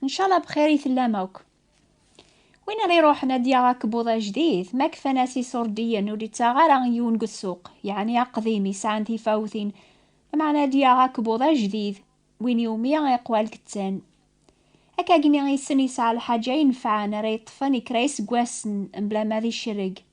Ncala bxir i tellam akk. Win ara iruḥen ad yaɣ akebbuḍ ajdid, ma kfan-as isurdiyen ur d-ittaɣ ara yiwen deg ssuq, yeɛni aqdim yesɛan tifawtin, lameɛna ad yaɣ akebbuḍ ajdid, win iwumi iqwal kettan. Akkagni issen yesɛa lḥaǧa inefɛen ara yeṭṭfen i kra iseggasen mebla ma d icerreg.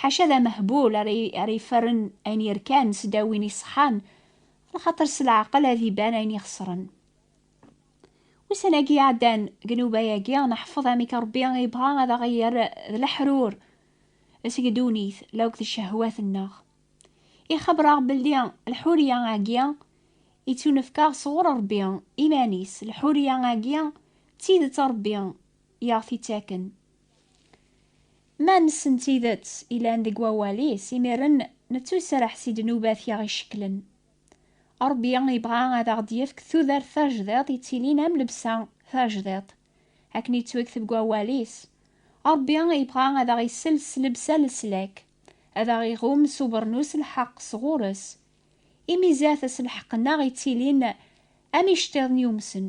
Ḥaca d amehbul ara ara iferren ayen yerkan sedaw win iṣeḥḥan, lxaṭer s leɛqel ad iban ayen ixesren. Ussan-agi iɛeddan deg nnuba-agi, neḥfeḍ amek Ṛebbi ibɣa ad aɣ-yerr d leḥrur seg ddunit la akked ccehwat-nneɣ. Ixebber-aɣ belli lḥuriya-agi ittunefk-aɣ sɣur Ṛebbi iman-is, lḥuriya-agi d tidet Ṛebbi i aɣ-t-ittaken, Ma nessen tidet ilan deg wawal-is, imiren nettuserreḥ si ddnubat i aɣ-icekklen. Ṛebbi ibɣa ad aɣ-d-yefk tudert tajdiṭ yettilin am lebsa tajdiṭ. Akken yettwekteb deg wawal-is, Ṛebbi ibɣa ad aɣ-isels s lebsa n leslak, ad aɣ-iɣum s ubernus n lḥeqq s ɣur-s. Imi zdat-s lḥeqq-nneɣ yettilin am iceṭṭiḍen yumsen.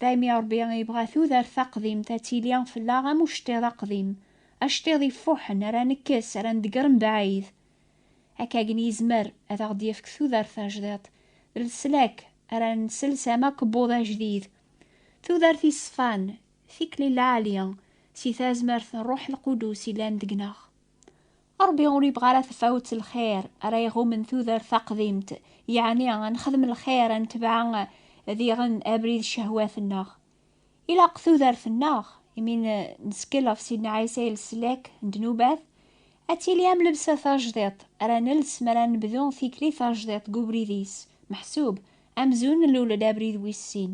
Daymi Ṛebbi ibɣa tudert taqdimt ad tili fell-aɣ am uceṭṭiḍ aqdim, aceṭṭiḍ ifuḥen ara nekkes, ara nḍegger mebɛid. Akkagen yezmer ad aɣ-d-yefk tudert tajdiṭ, d leslak ara nsels am akebbuḍ ajdid. Tudert iṣfan, tikli lɛali, si tazmert n Ṛṛuḥ Lqudus yellan deg-neɣ. Ṛebbi ur yebɣi ara tafawet n lxir ara iɣummen tudert taqdimt, yeɛni ad nexdem lxir, ad netbeɛ diɣen abrid n ccehwat-nneɣ. Ilaq tudert-nneɣ, imi nettkel ɣef Sidna Ɛisa i leslak n ddnubat, ad tili am lebsa tajdiṭ ara nels mi ara nebdu tikli tajdiṭ deg ubrid-is meḥsub, amzun nlul-d abrid wis sin.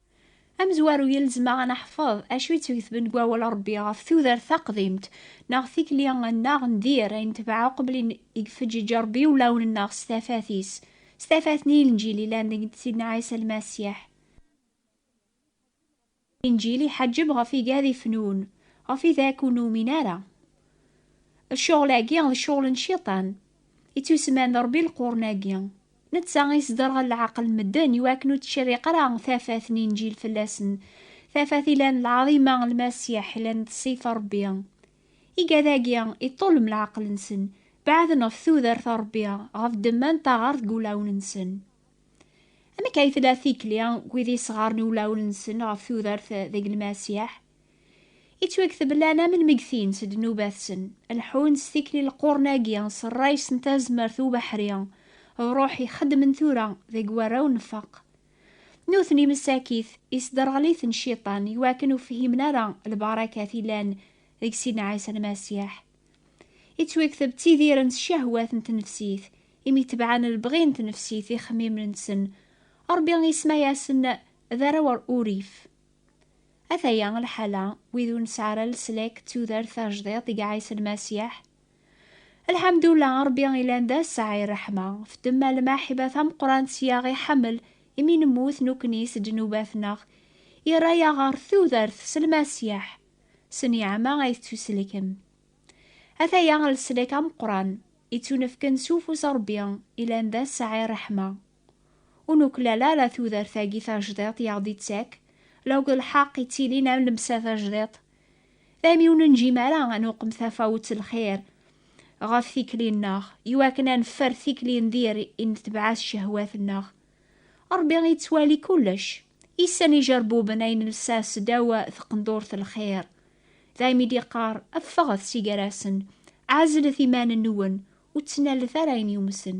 Amezwaru yelzem-aɣ ad neḥfeḍ acu yettweketben deg wawal n Rebbi ɣef tudert taqdimt neɣ tikli nneɣ n dir ay netbeɛ uqbel i ifeǧǧeǧ Rebbi ulawen nneɣ s tafat-is, s tafat n Yinǧil yellan deg Sidna Ɛisa Lmasiḥ. Inǧil iḥeǧǧeb ɣef igad ifenun, ɣef idak ur numin ara. Cceɣl-agi d cceɣl n Cciṭan, ittusemman d Rebbi leqrun-agi. Netta i yesderɣel leɛqel n medden i wakken ur ttcerriq ara tafat n Inǧil fell-asen, tafat ilan lɛaḍima n Lmasiḥ, ilan d ṣṣifa n Ṛebbi. Igad-agi iṭṭullem leɛqel-nsen, beɛden ɣef tudert n Ṛebbi, ɣef ddemma n taɣaṛt deg wulawen-nsen. Amek ay tella tikli n wid yesɣaṛen iwulawen-nsen ɣef tudert deg Lmasiḥ? Ittwakteb lana melmi gtin s ddnubat-sen, leḥḥun s tikli lqurn-agi s rray-s n tazmert d ubeḥri, d ruḥ i xeddmen tura deg warraw nfaq. Nutni messakit, isderɣel-iten cciṭan i wakken ur fhimen ara lbarakat yellan deg Sidna Ɛisa Lmasiḥ. Ittwakteb ttidiren s ccahwat n tnefsit, imi tebɛen lebɣi n tnefsit ixemmimen-nsen, Rebbi isemma-yasen d arraw n urrif. Ataya lḥala, wid ur nesɛi ara leslak d tudert tajdiṭ i iɛiṣen Masiḥ. Lḥamdula, Ṛebbi ilan d aseɛɛi n ṛṛeḥma. F demma lmaḥiba tameqqrant i aɣ-iḥemmel, imi nemmut nekkni s ddnubat-nneɣ, irra-yaɣ ɣer tudert s Lmasiḥ. S nniɛma ay tettuselkem. Ataya leslak ameqqran, ittunefken s ufus n Ṛebbi, ilan d aseɛɛi n ṛṛeḥma. Ur nuklal ara tudert-agi tajdiṭ i aɣ-d-ittak, law d lḥeqq ittilin am lebsa tajdiṭ. Daymi ur nenǧim ara ad nuqem tafawet n lxir ɣef tikli-nneɣ, iwakken ad neffer tikli n dir i netbeɛ s cehwat-nneɣ. Ṛebbi yettwali kullec, yessen ijerbuben ay nelsa seddaw tqendurt n lxir. Daymi i d-yeqqar, Ffɣet si gar-asen, ɛezlet iman-nwen, ur ttnalet ara ayen yumsen.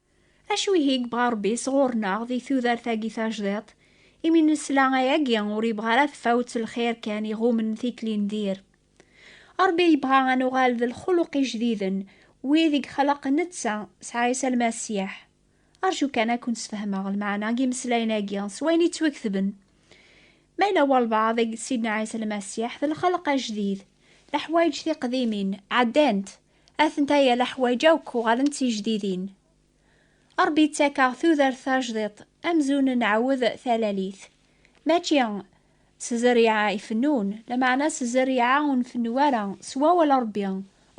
Acu ihi yebɣa Rebbi sɣur-neɣ di tudert-agi tajdiṭ? Imi nesla ayagi ur yebɣa ara tefawet n lxir kan iɣummen tikli n dir. Rebbi yebɣa ad nuɣal d lxuluq ijdiden, wid i yexleq Netta s Ɛisa Lmasiḥ. Rju kan ad ken-sfehmeɣ lmeɛna n yimeslayen-agi s wayen yettwaketben. Ma yella walbaɛḍ deg Sidna Ɛisa Lmasiḥ d lxelq ajdid, leḥwayeǧ tiqdimin ɛeddant, Atentaya leḥwaǧ akk uɣalen d tijdidin. Ṛebbi ittak-aɣ tudert tajdiṭ amzun nɛawed talalit. Mačči s zzerriɛa ifennun, lameɛna s zzerriɛa ur nfennu ara, s wawal Ṛebbi,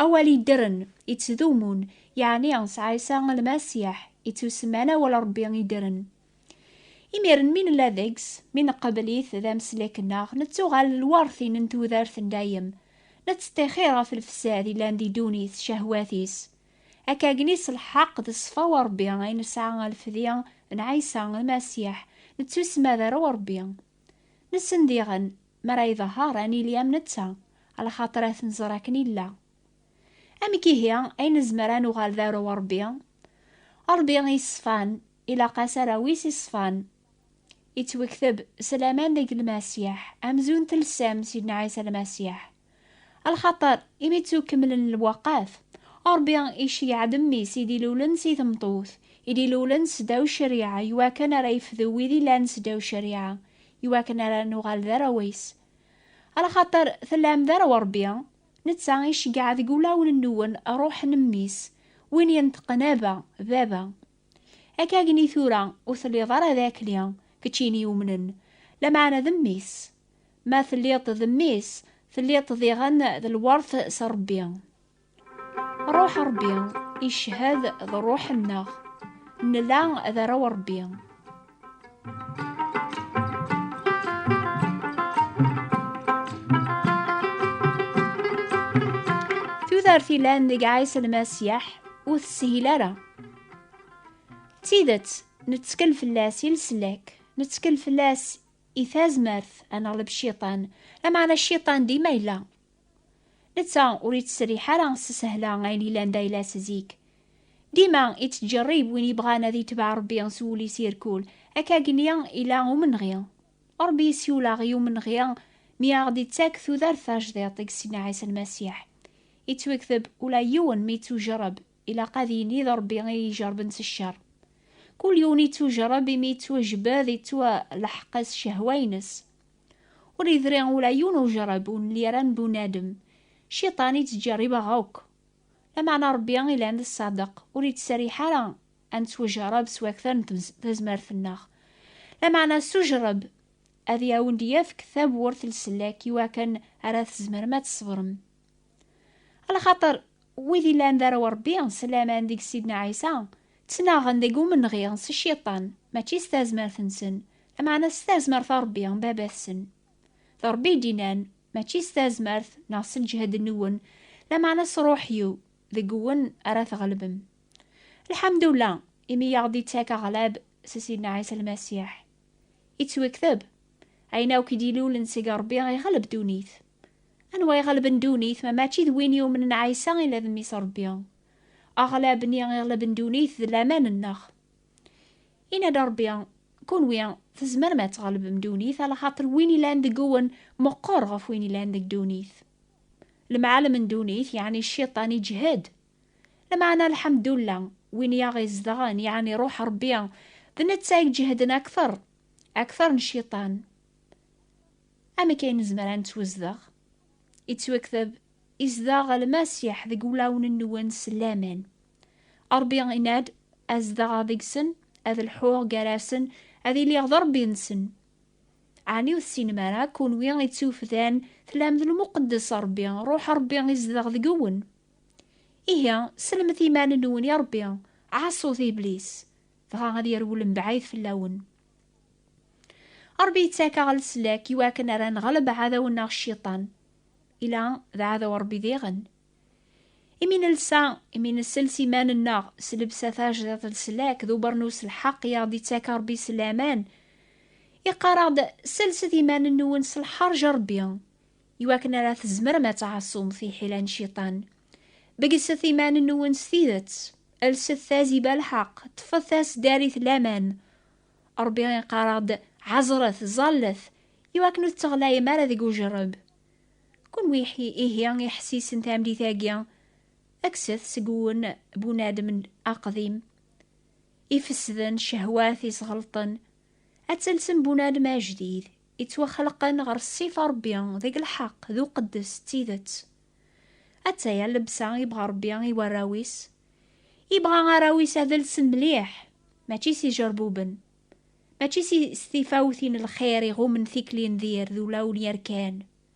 awal iddren, ittdumun, yeɛni s Ɛisa Lmasiḥ, ittusemman Awal Ṛebbi iddren. Imiren mi nella deg-s, mi neqbel-it d ameslek-nneɣ, nettuɣal lweṛtin n tudert n dayem, nettṭixir ɣef lefsad yellan di ddunit s cehwat-is. Akkagni s lḥeqq d ṣṣfa n Ṛebbi ay nesɛa alfedi n Ɛisa Lmasiḥ, nettusmad ar Ṛebbi. Nessen diɣen, mi ara iḍehher ad nili am netta, alaxaṭer ad t-nẓer akken yella. Amek ihi ay nezmer ad nuɣal d arraw n Ṛebbi? Ṛebbi i yeṣfan, Ilaq-as arawis iṣfan. Ittwekteb s laman deg Lmasiḥ, amzun telsam Sidna Ɛisa Lmasiḥ. Lxaṭer, imi ttukemlen lweqat, Ṛebbi iceyyeɛ-d Mmi-s i d-ilulen si tmeṭṭut, i d-ilulen seddaw ccariɛa, iwakken ara yefdu wid illan seddaw ccariɛa, iwakken ara nuɣal d arraw-is. Lxaṭer tellam d arraw n Ṛebbi, netta iceyyeɛ deg wulawen-nwen Ṛuḥ n Mmi-s, win yenṭeqen Abba, Baba. Akka gni tura ur telliḍ ara d Akli, kečč ini yumnen, lameɛna d mmi-s. Ma telliḍ-d d mmi-s, telliḍ-d diɣen d lwert s Rebbi. Ṛuḥ n Ṛebbi iccehhed d ṛuḥ-nneɣ, nella d arraw n Ṛebbi. tudert ilan deg Ɛisa Lmasiyeḥ ur teshil ara. D tidet, nettkel fell-as i leslak, nettkel fell-as i tazmert ad neɣleb cciṭan, lameɛna cciṭan dima yella. Netta ur ittserriḥ ara s sehla ayen yellan d ayla-s zik. Dima ittǧerrib win yebɣan ad yetbeɛ Rebbi s wul-is irkul, akka gni ila umenɣi. Rebbi yessiwel-aɣ i umenɣi mi aɣ-d-ittak tudert tajdiṭ deg Sidna Ɛisa Lmasiḥ. Ittwekteb ula yiwen mi ittujerreb, ilaq ad yini d Rebbi i ijerrben s ccer. Kul yiwen ittujerreb imi ittwajbed, ittwaleḥq s cehwa-ines. Ur yedri ula yiwen ujerreb ur nelli ara n bunadem. Cciṭan i ttǧerribeɣ akk. Lameɛna Rebbi ilan d ṣṣadeq, ur ittserriḥ ara ad nettwajerreb s wakter n tazmert-nneɣ. Lameɛna s ujerreb ad awen-d-yefk tawwurt n sellek iwakken ara tzemrem ad tṣebrem. Ala xaṭer wid illan d arraw n Ṛebbi, s laman deg Sidna Ɛisa, ttnaɣen deg umenɣi s Cciṭan, mačči s tazmert-nsen, lameɛna s tazmert n Ṛebbi, Baba-tsen. D Ṛebbi i d-innan, Mačči s tazmert neɣ s lǧehd-nwen, lameɛna s Ṛuḥ-iw, deg-wen ara tɣelbem. Lḥemdullah, imi i aɣ-d-ittak aɣlab s Sidna Ɛisa Lmasiḥ. Yettwekteb, Ayen akk i d-ilulen seg Ṛebbi iɣleb ddunit. Anwa iɣelben ddunit ma mačči d win yumnen Ɛisa ila d Mmi-s Ṛebbi? Aɣlab-nni iɣelben ddunit d laman-nneɣ. Yenna-d Ṛebbi, Kunwi tzemrem ad tɣelbem ddunit ala xaṭer win ilan deg-wen meqqer ɣef win ilan deg ddunit. Lemɛalem n ddunit, yeɛni Cciṭan, iǧhed. Lameɛna lḥemdulla, win i aɣ-izedɣen, yeɛni Ṛuḥ Ṛebbi, d netta i iǧehden akteṛ, akteṛ n Cciṭan. Amek ay nezmer ad nettwazdeɣ? Yettwakteb, Izdeɣ Lmasiḥ deg wulawen-nwen s laman. Ṛebbi yenna-d, Ad zedɣeɣ deg-sen, ad lḥuɣ gar-asen, ad iliɣ d Ṛebbi-nsen. Ɛni ur tessinem ara, kenwi ittufdan, tlam d lmuqeddes Ṛebbi, Ṛuḥ Ṛebbi izdeɣ deg-wen? Ihi, sellmet iman-nwen i Ṛebbi, ɛaṣut Iblis, dɣa ad yerwel mebɛid fell-awen. Ṛebbi yettak-aɣ leslak i wakken ara nɣleb aɛdaw-nneɣ Cciṭan. Ila d aɛdaw Ṛebbi diɣen. Imi nelsa, imi nesels iman-nneɣ s lebsa tajdiṭ leslak d ubernus lḥeqq i aɣ-d-ittak Ṛebbi s laman, iqqar-aɣ-d, Selset iman-nwen s lḥeṛǧ n Ṛebbi, i wakken ara tzemrem ad tɛaṣum tiḥila n ciṭan. Beggset iman-nwen s tidet, lset tazi balḥeq, ṭṭfet taseddarit laman. Ṛebbi iqqar-aɣ-d, Ɛeẓret, ẓallet, i wakken ur tetteɣlayem ara deg ujerreb. Kunwi ihi iḥessisen tamlit-agi, kkset seg-wen bunadem aqdim ifesden, cehwat isɣelṭen, ad telsem bunadem ajdid, Ittwaxleqen ɣer ssif a Rebbi, deg lḥeq, d uqeddes, d tidet. Attaya llebsa ibɣa Rebbi i warraw-is. Ibɣa arraw-is ad lsen mliḥ, mačči s ijerbuben, mačči s tifawtin n lxir iɣummen tikli n dir d ulawen yerkan,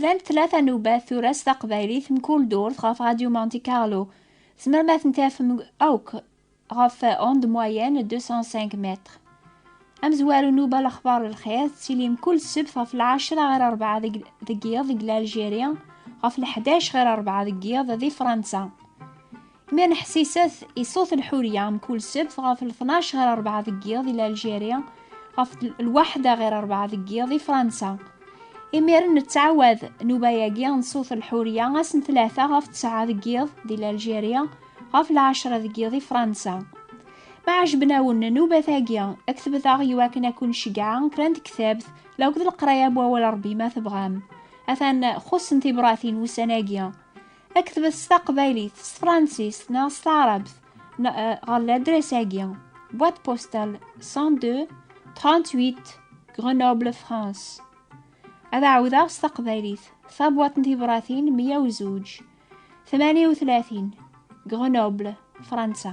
Llant tlata n ubat tura s taqbaylit mkul durt ɣef Radio Monte Carlo. Tzemrem ad ten-tafem akk ɣef onde moyenne 205 mètres. Amezwaru n uba lexbar lxir tettili mkul ssebt ɣef lɛecra ɣer rebɛa deg yiḍ deg Laljiṛi, ɣef leḥdac ɣer rebɛa deg yiḍ di Fransa. Mi neḥsiset i ṣṣut n Ḥurya mkul ssebt ɣef tnac ɣer rebɛa deg yiḍ di Algérie, ɣef lwaḥda ɣer rebɛa deg yiḍ di Fransa. Imiren nettɛawad nnuba-agi n ṣṣut n Ḥurya ass n tlata ɣef tesɛa deg yiḍ di Algérie, ɣef lɛecra deg yiḍ di Fransa. Ma ɛejben-awen nnubat-agi, ktebet-aɣ i wakken ad ken-ceggɛeɣ kra n tektabt la akked leqraya n Wawal Rebbi ma tebɣam. Atan xuṣṣen tibratin wussan-agi. Aktbet s taqbaylit, s tefransist neɣ s taɛrabt eh, ɣer ladres-agi boîte postale 102 38 Grenoble France ad ɛawdeɣ s taqbaylit tabwaṭ n tibratin 102 38 Grenoble Fransa